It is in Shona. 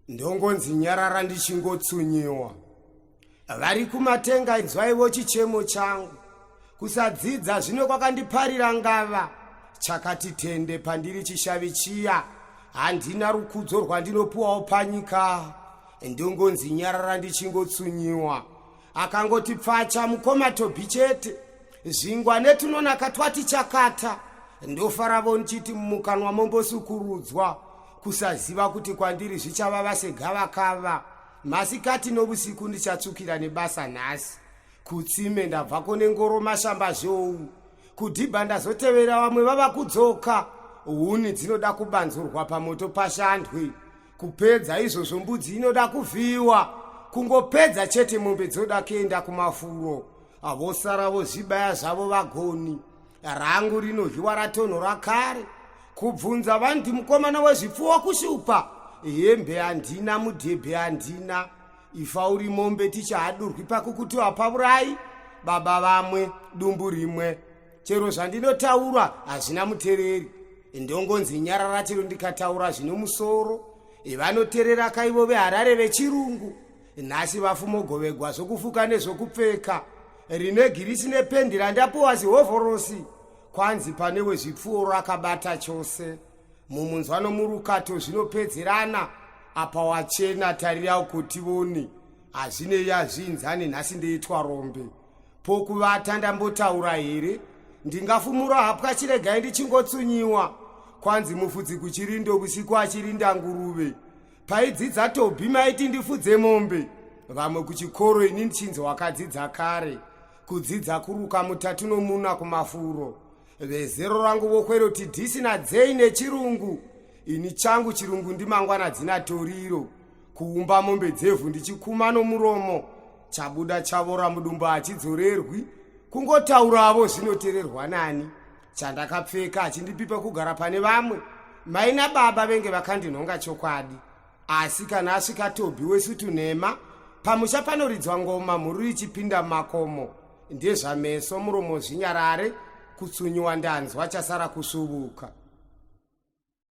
ndongonzi nyarara ndichingotsunyiwa vari kumatenga inzwaivo chichemo changu kusadzidza zvino kwakandiparira ngava chakati tende pandiri chishavi chiya handina rukudzo rwandinopuwawo panyika ndongonzi nyarara ndichingotsunyiwa akangoti pfacha mukoma tobhi chete zvingwa netunonaka twati chakata ndofaravo ndichiti mumukanwa mombosukurudzwa kusaziva kuti kwandiri zvichavava segavakava masikati novusiku ndichatsukira nebasa nhasi kutsime ndabvako nengoro mashamba zvou kudhibha ndazotevera vamwe vava kudzoka huni dzinoda kubanzurwa pamoto pashandwe kupedza izvozvo mbudzi inoda kuvhiyiwa kungopedza chete mombe dzoda kuenda kumafuro avosara vozvibaya zvavo vagoni rangu rinovhiwa ratonhora kare kubvunza vandi mukomana wezvipfuwo kushupa hembe handina mudhebhe handina ifa uri mombe tichahadurwi pakukuti wapavurayi baba vamwe dumbu rimwe chero zvandinotaura hazvina mutereri ndongonzi nyarara chero ndikataura zvine musoro vanoterera kaivo veharare vechirungu nhasi vafumogovegwa zvokufuka nezvokupfeka rine girisi nependi randapuwa zihovhorosi kwanzi pane wezvipfuuro akabata chose mumunzwa nomurukato zvinopedzerana apa wachena tarira kuti voni hazvinei azviinzani nhasi ndeitwa rombe pokuvata ndambotaura here ndingafumura hapwa chiregai ndichingotsunyiwa kwanzi mufudzi kuchirindo vusiku achirinda nguruve paidzidza tobhi maiti ndifudze mombe vamwe kuchikoro ini ndichinzi wakadzidza kare kudzidza kuruka mutatu nomuna kumafuro vezero rangu vokweroti dhisina dzei nechirungu ini changu chirungu ndimangwana dzina toriro kuumba mombe dzevhu ndichikuma nomuromo chabuda chavora mudumba hachidzorerwi kungotauravo zvinotererwa nani chandakapfeka achindipipa kugara pane vamwe mai nababa venge vakandinhonga chokwadi asi kana asvika tobhi wesutunhema pamusha panoridzwa ngoma mhuru ichipinda makomo ndezvameso muromo zvinyarare kutsunyiwa ndanzwa chasara kusvuvuka